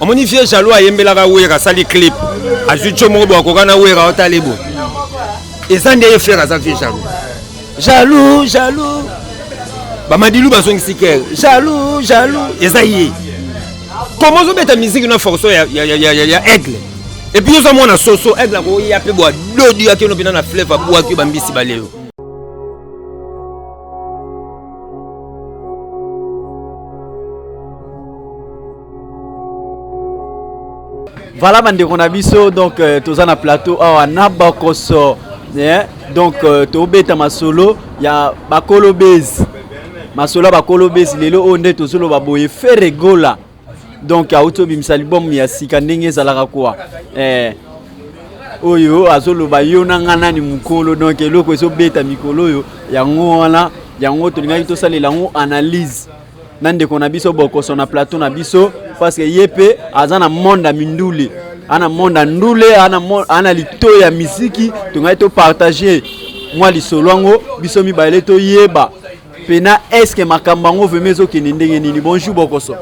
omoni vieux jaloux ayembelaka wera asali clip azwi tio moko bo akoka na wera otali bo eza nde ye frère aza vieux jaloux jaloux jaloux bamadilu bazongisi kere jaloux jaloux eza ye koma ozobeta miziki na forso ya, ya, ya, ya, ya, ya aigle epuis oza mwana soso aigle akoya mpe bwa dodi akeno mpena na fleve abwaki bambisi balelo Voilà bandeko na biso donc euh, toza na plateau awa na bakoso eh? donc euh, tobeta masolo ya bakolo base masolo ya bakolo base lelo oyo nde tozoloba boye fere gola donc auti obimisa libomu ya sika ndenge ezalaka kuwa eh, oyo azoloba yo na ngai nani mokolo donc eloko ezobeta mikolo oyo yango wana yango tolingaki tosalela yango analyse na ndeko na biso bokoso na plateau na biso parce que ye mpe aza na monde ya mindule ana monde ya ndule ana lito ya miziki tongaki topartage mwa lisolo yango biso mibale toyeba mpena eske makambo yango vrema ezokende ndenge nini bonjour bokoso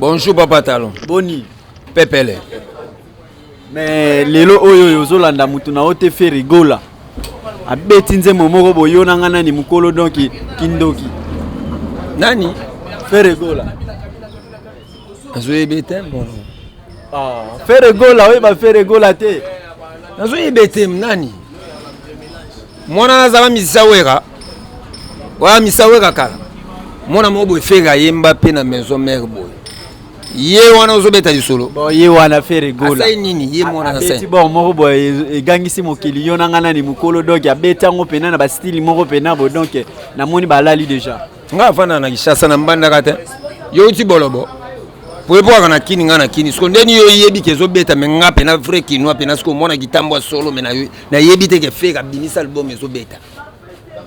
bonjour papa talon boni pepele Mais lelo oyo oyo ozolanda mutu na yo te Ferre Gola abeti nzembo moko boyo na nga nani mukolo donc kindoki nani Ferre Gola nazoyebe te mono ah, Ferre Gola oyeba Ferre Gola te nazoyebe te nani mwana nazala misisa wera oya misisa wera kala mwana moko boye Ferre ayemba mpe na maison mère boye ye wana ozobeta lisolo bon ye wana fere gola asali nini ye mwana na seti bon moko boye egangisi mokili yo na ngai nani mokolo donc abeti yango mpena na bastile moko mpena bo donc namoni balali déjà nga afanda na kishasa na mbandaka te yo uti bolobo po epokaka na kini nga na kini siko ndeni yo oyebi ke ezobeta me nga mpena vrai kinois mpena siko omona kitambo ya solo me nayebi te ke fere abimisa album ezobeta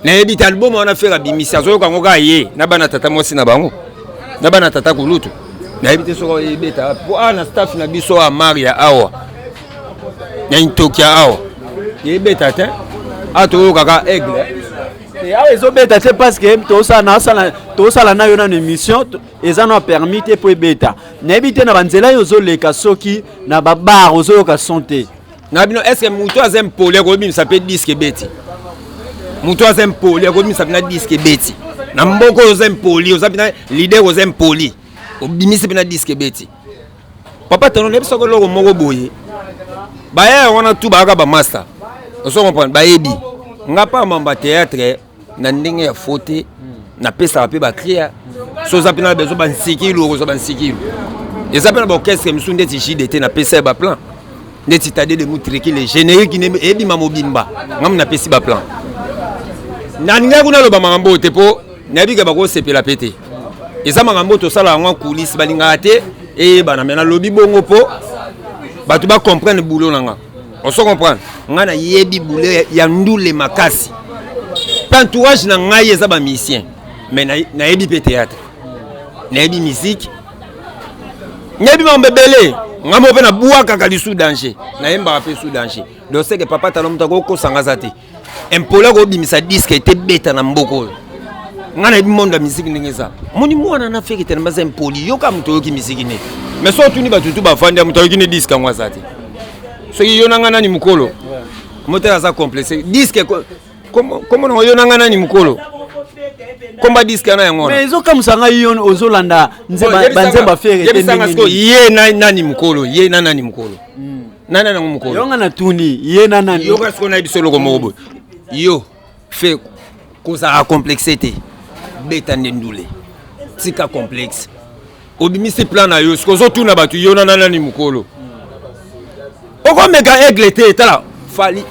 nayebi te album wana fere abimisi azoyoka yango kaka ye na bana tata mwasi na bango na bana tata kulutu nayebi te soko ebeta mpo awa na staff na biso awa maria awa na intokia awa ebeta te awa toyokaka aigle eh, awa ezobeta te parce que tosala nayo nano émission eza na permis te mpo ebeta nayebi te na banzela yo ozoleka soki na babar ozoyoka son te na bino est ce que moto aza impoli akobimisa mpe diske ebeti moto aza impoli akobimisa mpena diske ebeti na mboka oyo oza impoli oza mpena lider oza impoli obimisi mpena diske ebeti papa tano nayebisaka eloko moko boye baya yango wana tu bayaka bamasta oso comprendre bayebi nga pa mamba théâtre na ndenge ya fo te napesaka mpe bacria so oza mpe na bezo bansikilu okozwa bansikilu eza mpe na baorchestre mosusu ndeti jide te napesa ye baplan ndeti tade de mutrekile générique ne ebima mobimba ngamu napesi baplan nalingaki kuna aloba makambo oyo te mpo nayebi ke bakosepela mpe te eza makambo oyo tosala yango kulisi balingaka te eyebana me nalobi bongo mpo bato bacomprendre bulo na nga On se comprend. Nga na yebi boule ya ndule makasi. Entourage na ngai eza ba musicien. Mais na, na yebi pe théâtre. Na yebi musique. Na yebi mambe belé. Nga mo pe na bua kaka li sous danger. Na yemba pe sous danger. Donc c'est que papa talon mutako ko sanga zate. impoli akobimisa diske ete beta na mboka oyo ngai nayebi mondo ya miziki ndenge eza moni mwana na feke tene baza impoli yoka moto oyoki miziki nde mais soki otuni bato tu bafandi ya moto ayoki nde diske yango aza te soki yo na ngai nani mokolo motela aza complexe diske komo nango yo na ngai nani mokolo komba diske wana yango wana ezokamwisa ngai yo ozolanda banzemba fere ye nani mokolo ye na nani mokolo hmm. nani nango mokolo yonga na tuni ye na nani yoka sikoyo nayebi solo ko moko boye yo fe kozala complexe te beta nde ndule tika complexe obimisi plan na yo sikoyo ozotuna bato yo na nani mokolo okomeka aigle te tala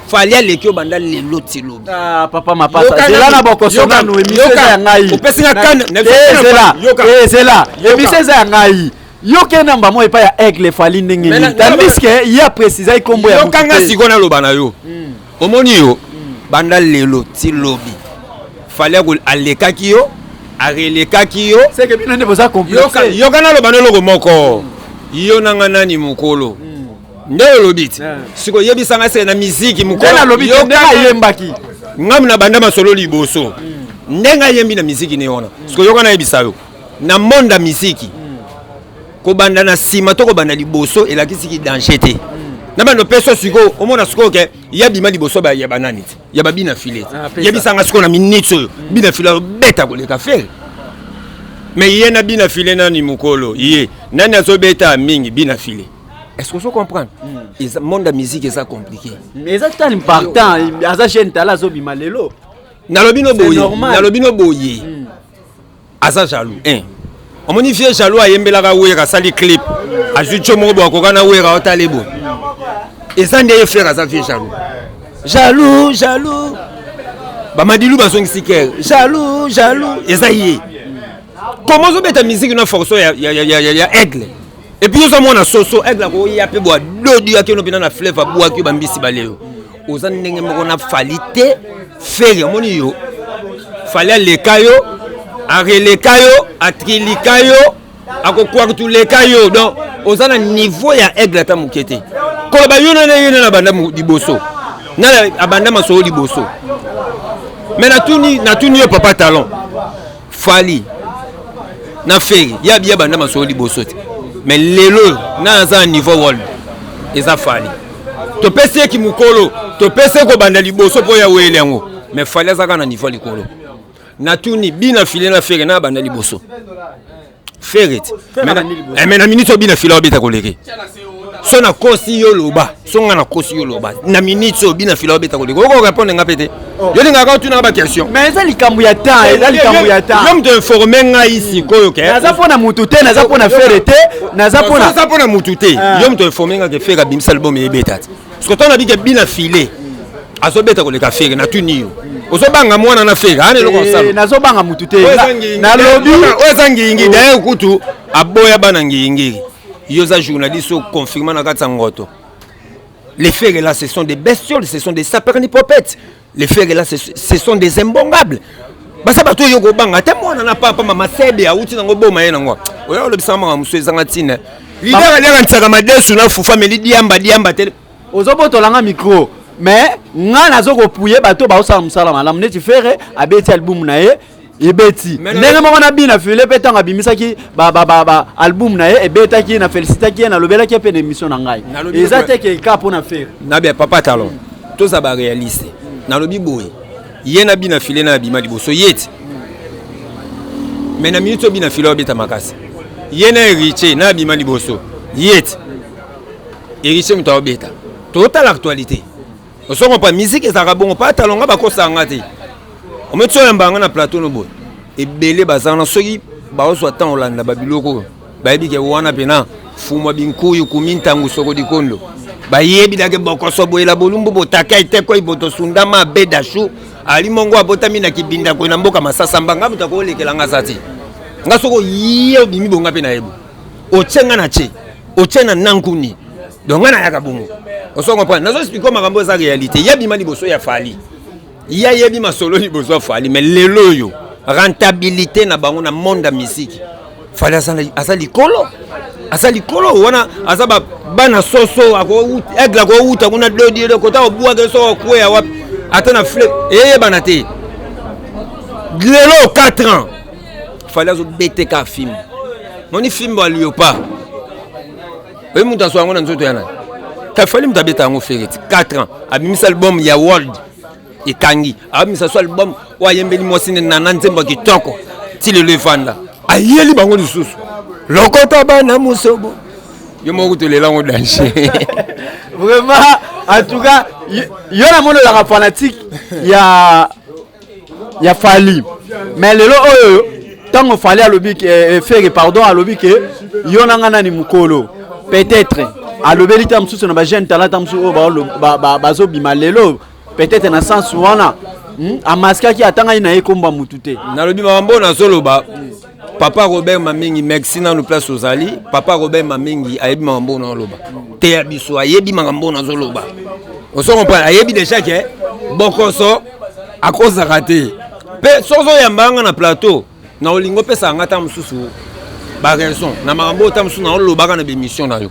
fali aleki yo banda lelo tilobi ah, papa mapasazela na bokosonano emiseza ya ngai opesi nga kane ezela emiseza ya ngai yo ke namba moko epai ya aigle efali ndenge Mais na- nini tandiske ye aprecizaki nkombo ya moto yokanga te. sikoyo naloba na yo omoni yo banda lelo ti lobi fali ako- alekaki yo arelekaki yo seke bino nde boza Yoka- complexe yoka naloba na eloko moko yo nanga nani mokolo nde olobi ti Yeah. siko oyebisa ngai seke na miziki nde nalobi te nde ayembaki ngam na banda masolo liboso ndenge ayembi na miziki ne wana siko yoka nayebisa yo na monde ya miziki kobanda na nsima to kobanda liboso elakisi ki danger te na bando peso sikoyo omona sikoyo ke ya bima liboso ya banani te ya babina file te ah, yebisanga sikoyo na minute oyo mm. bina file abeta koleka fele me ye na bina file nani mokolo ye nani azobeta mingi bina file est-ce que ozo comprendre mm. monde ya musique eza compliqué mais eza tani partant aza jeune tala azobima lelo nalobi no boye nalobi no boye mm. aza jaloux eh. omoni vieux jaloux ayembelaka wera asali clip azwi tio moko boakoka na wera otali boye eza nde ye frère aza vieux jaloux jaloux jaloux bamadilu bazongisi kere jaloux jaloux eza ye koma ozobeta miziki na forso ya, ya, ya, ya, ya, ya aigle epuis oza mwana soso aigle akoya mpe bwa dodi akeno mpena na fleuve abwaki yo bambisi baleo oza ndenge moko na fali te feri omoni yo fali aleka yo areleka yo atrilika yo akokwartuleka yo donc oza na niveau ya aigle ata moke te koloba yo nana ye nana abanda liboso nana abanda masolo liboso me natuni natuni yo papa talon fali na feri ya biya banda masolo liboso te mais lelo na aza na niveau world eza fali topesi ye kimokolo topesi ye kobanda liboso mpo ya wele yango mais fali azaka na niveau likolo natuni bina file na feri na abanda liboso Ferret. Eh, mais na minute obina fila obeta koleke. So na kosi yo loba. So nga na kosi yo loba. Na minute so obina fila obeta koleke. Oko répondre nga pete. Oh. Yo linga ka tuna ba question. Mais eza likambo ya temps, eza likambo ya temps. L'homme de informer nga ici koyo ke. Naza pona mutu te, naza pona Ferret te, naza pona Naza pona mutu te. Ah. Yo mutu informer nga ke Ferret bimisa album ebeta. soki ntango nabike bina file azobeta koleka fere natuni yo ozobanga mwana na fere ana eloko osala eh, nazobanga motu te nalobi oyo eza ngiyingi daye kutu aboya bana ngiyingiri yo oza journaliste oyo confirma na kati ya ngoto les fere là ce sont des bestioles ce sont des sapernipopetes les ferre là ce sont des imbongables baza bato oyo kobanga ata mwana na papa mama sebe awuti nango boma ye nango oyo olobisaka makambo mosusu ezanga ntina lider alianganisaka madesu na fufa meli diamba diamba te ozobotolanga micro mais ngai nazo kopuye bato baosala mosala malamu neti ferre abeti albumu na ye ebeti ndenge moko na bina file mpe ntango abimisaki album na ye ebetaki na felicitaki ye nalobelaki ye mpe na émission na ngai eza te ke ka mpo na fere na bia papa talon toza baréaliste nalobi boye ye na bina file na abima liboso ye ti me na minute oyo bina file abeta makasi ye na héritier na abima liboso ye ti héritier moto aobeta totala actualité ozo comprendre musique ezalaka bongo pa talo nga bakosaka nga te ometi oyamba nga na plateau no boye ebele bazala na soki baozwa ntango olanda babiloko oyo bayebi ke wana mpena fumwa binkuyu kumi ntango soko likondo bayebi dake bokoso boyela bolumbu botaka etekoi botosunda mabe dashu ali mongo abotami na kibinda koi na mboka masasa mbanga moto akoolekela nga za te nga soko ye obimi bonga mpe na yebo otie nga na tie otie na nankuni donc nga nayaka bongo oso comprendre nazo explike makambo eza réalité ye abima liboso ya fali ye ayebi masolo liboso ya fali mais lelo oyo rentabilité na bango na monde ya misiki fali aza likolo aza likolo wana aza bana soso aigle akowuta kuna dodire kota obwake soko okweya wapi ata na fle eyebana te lelo 4 ans fali azo bete ka fimbo moni fimbo aliyo pa oyebi moto azwa yango na nzoto ya nani kafali moto abeta yango fereti 4 ans abimisa album ya world ekangi abimisa so album oyo ayembeli mwasi ne nana nzembo ya kitoko ti lelo efanda ayeli bango lisusu lokota bana mosobo yo moko kutolela yango danger vraiment en tout cas yo namonelaka fanatique ya ya fali mais lelo oyo ntango fali alobi ke eh, eh, fere pardon alobi ke yo na nga nani mokolo peut-être alobeli ta mosusu na bajeune talata mosusu oyo oh, bazobima lelo peut-être na sens wana hmm, amaskaki atangaki na ye kombo ya motu te nalobi makambo oyo nazoloba papa robert mamingi merci nanu place ozali papa robert mamingi ayebi makambo oyo naoloba te ya biso ayebi makambo oyo nazoloba osokomprene ayebi deja ke bokoso akozaka te mpe soki ozoyamba nga na plateau na olingi opesaka nga ta mosusu baraison na makambo oyo ta mosusu naolobaka na bemission na yo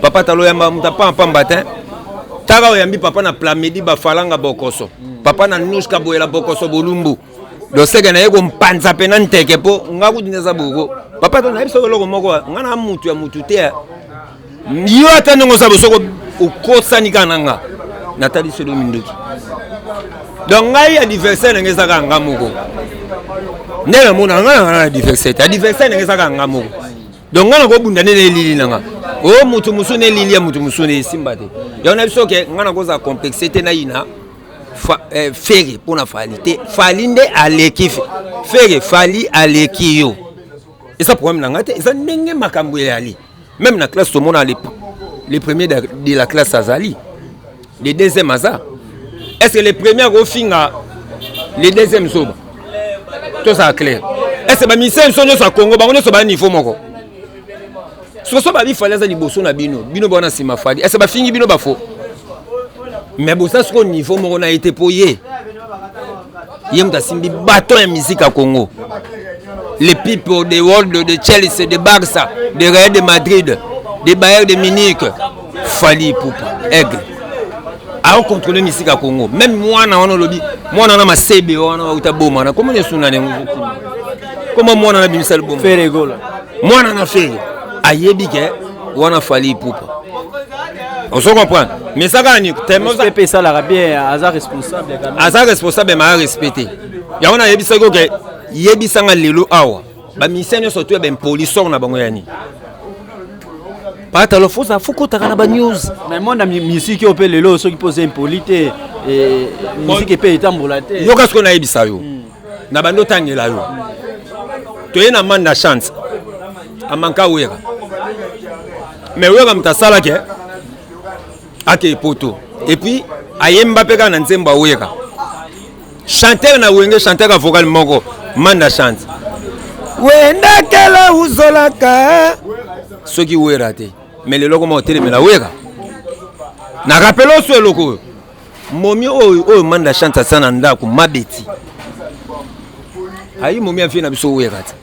Papa talo yamba muta pa pamba te. Tara oyambi papa na plamedi ba falanga bokoso. Papa na nuska boyela bokoso bolumbu. loseke na ye kompanza mpe na nteke mpo nga kutu neza boko papa to nayebi soko eloko moko nga na mutu ya mutu te yo ata ndenge oza bosoko okosani kaka na nga natali solo minduki donc ngai adversaire na ngai eza kaka nga moko nde namona ngai na nga na adversaire te adversaire na ngai eza kaka nga moko donc nga nakobunda nde na elili na nga o oh, motu mosusu na elili ya motu mosusu na esimba te yango na biso ke nga nakozala complexe te nayina eh, fere mpo na fali te fali nde aleki fere fali aleki yo eza problème na nga te eza ndenge makambo eyali meme na classe tomona le premier de la classe azali le deuxième aza est ce que le premier akofinga le deuxième zoba tozala claire est ce que bamisien biso nyonso ya congo bango nyonso baya niveau moko soso babi fali aza liboso na bino bino bawana nsima fali est ce que bafingi bino bafo mais boza sikoyo niveau moko na ye te mpo ye ye moto asimbi baton ya miziki ya congo les people de world de chelsea de barça de real de madrid de bayer de munich fali pupa aigle aocontrole misika ya congo meme mwana wana olobi mwana wana masebe wana auta boma na komona esuna na yango koma mwana na bimisa liboma mwana na fere ayebi ke wana fali ipupa ozo comprendre mais eza kaka niko tmpp esalaka bien aza responsable aza responsable ma arespecte yango nayebisaki oke yebisanga lelo awa bamisien nyonso to ya bempolisor na bango ya nini patalo foza fokotaka na banews namona misiki oyo mpe lelo soki mpo oza impoli te misiki mpe etambola te yoka sikoyo nayebisa yo hmm. na bando otangela yo toye na manda chance amanka wera mais wera moto asalaki eh? ake poto epuis ayemba mpe kaka na nzembo ya wera chanteur na wenge chanteur ya vocal moko manda chance wendakela uzolaka soki wera te mais leloko moko otelemela wera na rapele oso eloko oyo momi oyo oyo manda chance asa na ndako mabeti ayi momi afie na biso wera te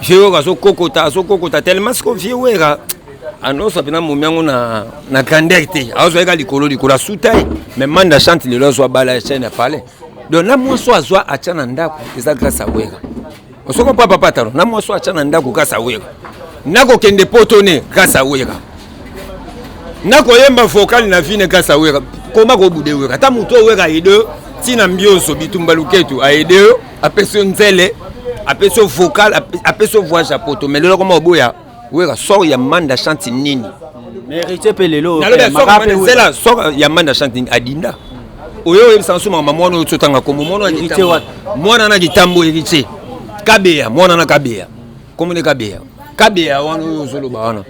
vie wera azokokota azokokota tellement siko vie wera anosa mpena momi yango na, na grandeur te azwa yeka likolo likolo asuta ye mais manda chante lelo azwa bala ya chaine ya palais donc na mwasi oyo azwa atya na ndako eza grâce ya wera osoko papa patalo na mwasi atya na ndako kasa wera nakokende poto ne kasa wera nakoyemba vokali na vine kasa wera koma kobude wera ata motu owera aide yo ntina mbionso bitumba luketu aide yo apesi yo nzele apesi yo vokal apesi yo voyage ya poto me lelo koma oboya wera sor ya manda chante nini mérite mpe lelo zela sor ya manda chante nini adinda oyo oyebisa nso mama mwana oyo totanga kombo mwana na kitambo héritier kabeya mwana na kabeya kombo ne kabeya kabeya wana oyo ozoloba wana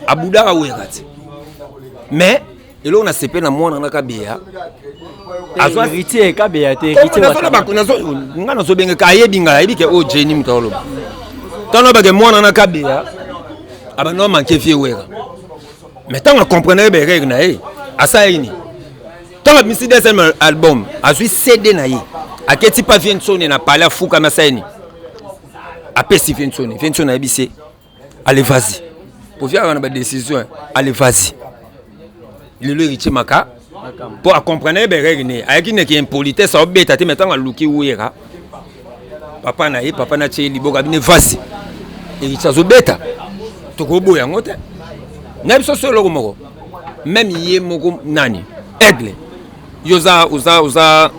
abudaka wera te mais eloko na sepe na mwana nga kabeya azwa héritier kabeya te héritier nazo na bako nazo nga nazo benge ka ayebi nga ayebi ke o oh, Jenny mutolo tano bage mwana na kabeya abano manke fie wera mais tango comprendre ye bereg na ye asala ye nini tango abimisi deuxième album azwi cd na ye aketi pa viensone na palais afukami asala ye nini apesi viensone viensone ayebisi ye allez vas-y oviaka na badécision allez vas-y lelo héritier maka mpo acomprene ye berere ne ayaki neke impolitesse aobeta te me ntango aluki wera papa na ye papa na tie liboka bine vasi héritier azobeta tokoboya yango te na biso so eloko moko meme ye moko nani aigle yo oza oza oza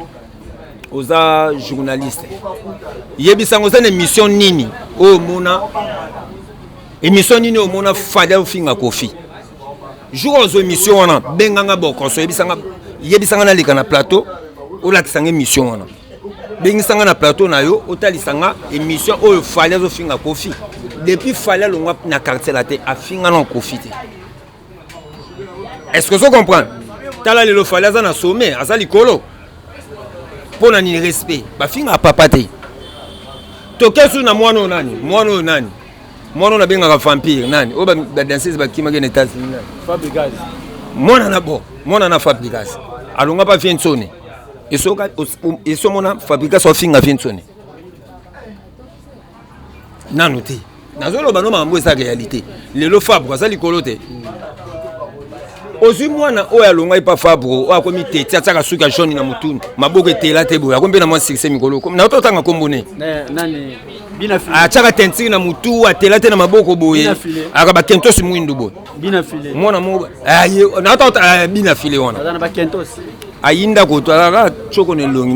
oza journaliste yebisa yango oza na émission nini oyo omona émission nini oyo omona fali ofinga kofi jour ozwa émission wana benganga bokoso yebisanga yebisanga naleka na plateau olakisanga émission wana bengisanga na plateau na yo otalisanga émission oyo fali azofinga kofi depuis fali alongwa na quartier la te afinga na kofi te est ce que ozo comprendre tala lelo fali aza na sommet aza likolo mpo na nini respect bafinga papa te toke susu na mwana oyo nani mwana oyo nani mwana oyo nabengaka vampire nani oyo badanseuse bakimaki na etats-unis nani mwana na bo mwana na fabricas alonga mpa viensone esomona fabricas afinga viensone nanu te nazoloba no makambo eza réalité lelo fabre aza likolo te ozwi mwana oyo alongaki pa fabre oyo akomi teti atiaka suki ya jaune na motunu maboko etela te boye akomi mpe na mwa succès mikolo nato otanga nkombo ne atiaka tentire na motu atela te na maboko boye aka bakentosi mwindu boye mwana moko nato bina file wana ayinda koto alaka coko na elongi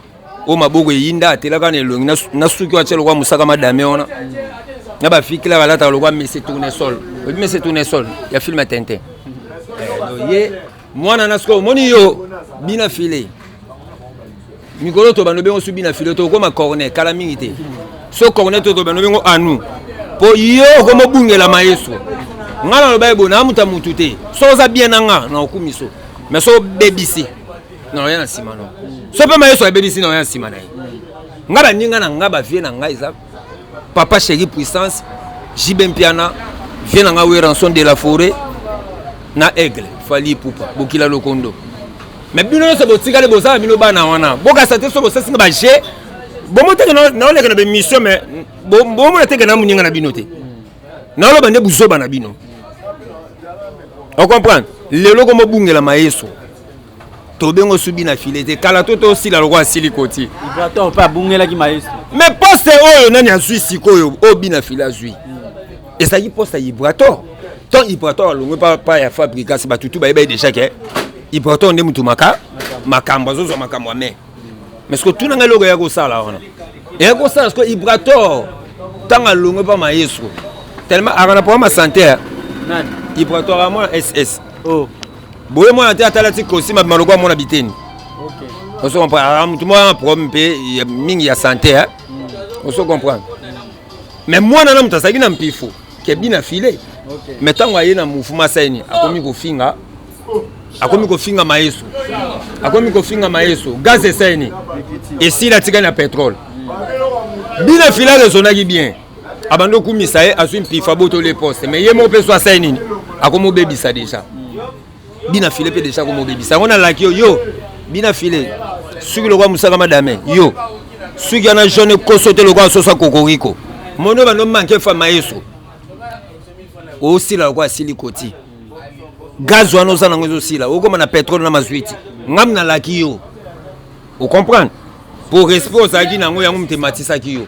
oyo maboko eyinda atelaka na elongi na suki oyo atya lokwa mosaka madame wana na bafikila balataka lokwa mese tournesol oyebi mese tournesol ya filme tintin eh, ye mwana na sikoyo omoni yo bina file mikolo tobanda obengo su bina file tokokoma corne kala mingi te so corne to tobanda obengo anu mpo yo okomobungela maestro ngai naloba ye boye naa moto ya motu te so oza bien na ngai na okumi so mais so obebisi na oya na nsima no so mpe ma yesu abebisi na oya na nsima na ye nga baninga na nga bavie na nga eza papa chéri puissance jb mpiana vie na nga weranson de la forêt na aigle fali ipupa bokila lokondo me bino nyonso botikali bozala bino bana wana bokasa te so bosasi nga baje bomoteke naoleka na bemission me bomona teke na moninga na bino te naoloba nde buzoba na bino ocomprendre lelo komobungela mayeso tobengo subi na file te kala to tosila lokola asili koti mpe abungelaki maestro me poste oyo nani azwi sikoyo oyo bina file azwi ezalaki poste ya ibrator tant ibrator alongwe pa ya fabricas bato tu bayebaki déjà ke ibrator nde motu maka makambo azozwa makambo ya mai mais siko tuna ngai eloko eya kosala wana eya kosala siko ibrator ntango alongwe pa maestro tellement aka na problème ya santé ibrator amona ss oh. boye mwana te atala ti costume abima lokola mwana biteni oso comprendre ah, motu mwana na problème mpe mingi ya santé hein? Mm. oso comprendre mais mwana na moto azalaki na mpifo kebi na file mais ntango aye na mouvement asaini akomi kofinga akomi kofinga maeso akomi kofinga maeso gaz esaini esili atikali na petrole mm. bina file alezonaki bien abandi okumisa ye azwi mpifa botoli poste mais ye moko mpe so asali nini akomobebisa deja bina file mpe deja akomobebisa yango nalaki yo yo bina file suki lokola mosaka madame yo suki wana jaune koso te lokola sosa kokoriko mono bando manke fama yeso osila lokola asili koti gaz wana oza nango ezosila okoma na petrole na mazwiti ngam nalaki yo ocomprendre po respect ozalaki na yango yango moto ematisaki yo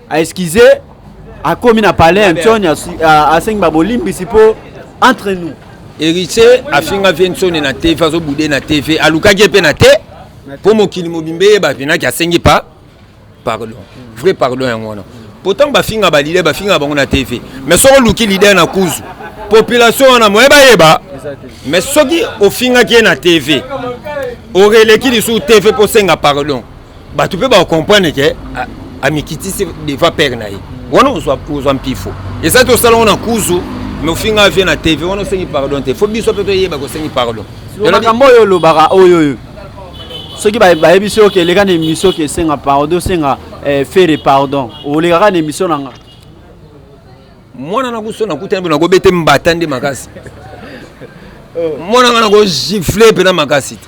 a excuse akomi na palais antoni asengi babolimbisi mpo entre nous héritier afinga vie nsoni na tv azobude na tv alukaki ye mpe na te mpo mokili mobimba eyeba vinaki asengi pa pardon vrai pardon yango wana mpo ntango bafinga balide bafinga bango na tv mais soki oluki lider na kuzu population wana moye bayeba mais soki ofingaki ye na tv oreleki lisusu tv mpo osenga pardon bato mpe bakomprendre ke amikitisi devant père na ye wana ozwa mpifo eza te osala ngo na kuzu me ofinga vie na tv wana osengi pardon te fo biso mpe toyeba kosengi pardon makambo oyo olobaka oyo oyo soki bayebisi yo ke eleka na émission ke esenga pardon osenga eh, fere pardon olekaka na émission na nga mwana na kuso nakutani mpe nakobete mbata nde makasi oh. mwana nga nakogifle mpe na makasi te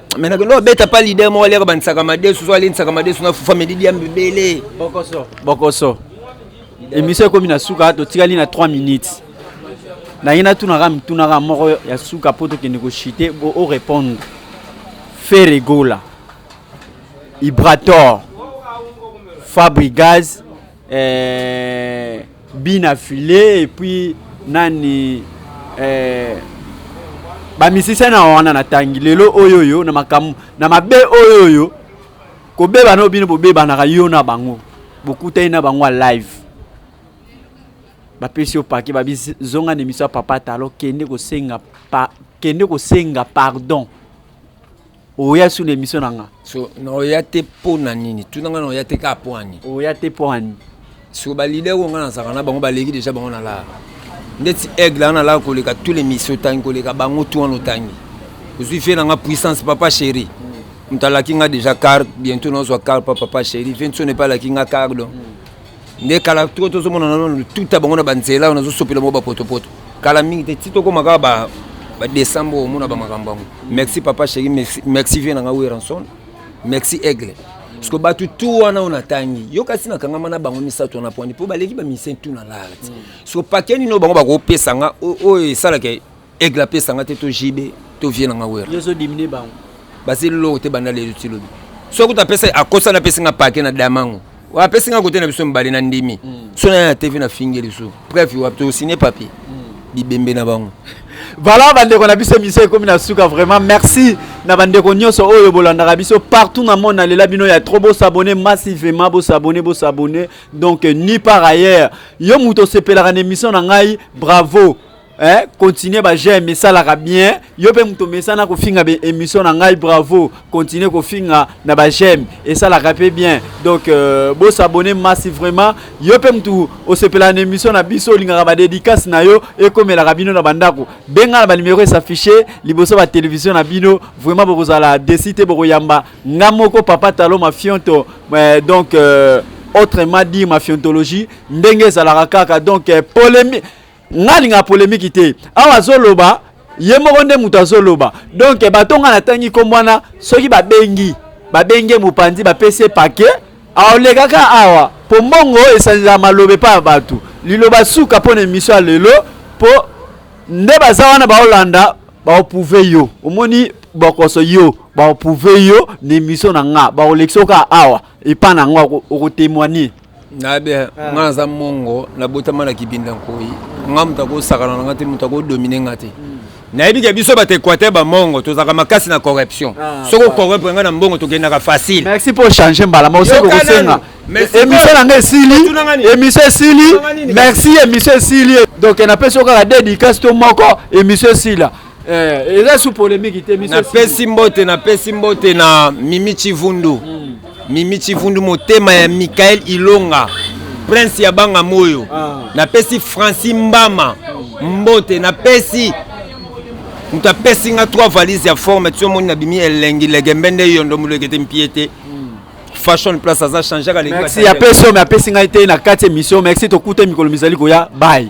mais nakende obeta pa lider moko aliaka banisaka madesu so alendisaka madesu na fufa medidi ya mbebele bokoso bokoso emission ekomi na suka totikali na 3 minutes naye natunaka mitunaka moko ya suka mpo tokende koshite o répondre fere gola ibrator fabrigaz eh, bina filet epuis nani eh, bamisisa na wana natangi lelo oyo oyo na makambo na mabe oyo oyo kobeba na bino bobebanaka yo na bango bokutani na bango ya live bapesi yo pake babizonga na emission ya papa talo kende kosenga pa, kende kosenga pardon oya sur l'émission na nga so na oya te mpo na nini tuna nga na oya te kaka mpo ani oya te mpo ani so balider oyo nga nazalaka na bango baleki deja bango na lara ndeti aigle wana nalaka koleka tous les misio otangi koleka bango tu wana otangi ozwi vie na nga puissance papa chéri moto alaki nga deja car bientôt nazwa car pa papa chéri vie nso nepe alaki nga car donc nde kala to tozomona na nano tuta bango na banzela oyo nazosopela bango bapotopoto kala mingi te ti tokóma kaka ba badesembre oyo omona bamakambo yango merci papa chéri merci vie na ngai weranson merci aigle parceke bato tu wana oyo natangi yo kasi nakangama na bango misato wana pwani mpo baleki bamisie tu na larti mm. so pake nini oyo bango bakopesa nga oyo esalaka Aigle apesa nga te to JB to vieux na nga Werra. Yo zo diminuer bango. Basi loko te banda lelo ti lobi. Soki kuta pesa akosa na pesi nga pake na damango. Wa apesi nga kote na biso mbali na ndimi. Mm. So na ya TV na fingi lisu. Bref, wa to signer papier. Mm. Bibembe na bango. Voilà bandeko na biso mission ekomi na suka vraiment merci na bandeko nyonso oyo bolandaka biso partout na monde nalela bino ya trop bosabone massivement bosabone bosabone donc ni par ailleurs yo moto osepelaka na émission na ngai bravo eh, continue ba j'aime esalaka bien yo mpe moto omesana kofinga be émission na ngai bravo continue kofinga na ba j'aime esalaka mpe bien donc euh, bosabone masi vraiment yo mpe moto osepela na émission na biso olingaka badédicace na yo ekomelaka bino na bandako benga na banimero esaffiche liboso batelevizio na bino vraiment bokozala desi te bokoyamba nga moko papa talo mafionto eh, donc euh, autrement dit mafiontologie ndenge ezalaka kaka donc eh, polémique nga alingaka polemiki te awa azoloba ye moko nde moto azoloba donk bato nga natangi nkombo wana soki babengi babenge mopanzi bapesi ye pake aolekaka awa mpo mbongo oyo esanzela maloba epai ya bato liloba suka mpo na emisio ya lelo mpo nde baza wana baolanda baopouve yo omoni bokoso yo baopouve yo na emisio na nga baolekisa oka awa epai na nga okotemoigne nayebi eh, ah. nga naza mongo nabotama na kibinda nkoi nga moto akosakana na nga te moto akodomine nga te hmm. nayebi ke biso bato équateur bamongo tozalaka makasi na corruption ah, soki ocorrupre nga na mbongo tokendaka facile merci mpo change mbala maosekokosenga émission na nga esili émission esili merci émission esili donc napesi yo kaka dedicase to moko émission esila Eh, eza sous polemique te biso. Napesi mbote, napesi mbote na Mimi Chivundu. Mm. Mimi Chivundu motema ya Michael Ilonga. Prince ya banga moyo. Ah. Napesi Francis Mbama mbote, napesi moto apesi nga trois valise ya forme ti omoni na bimi elengi legembe nde yondo molekete mpie te fashion place aza change kaka merci apesi oyo me apesi ngai te na kati emission merci tokuta mikolo mizali koya bye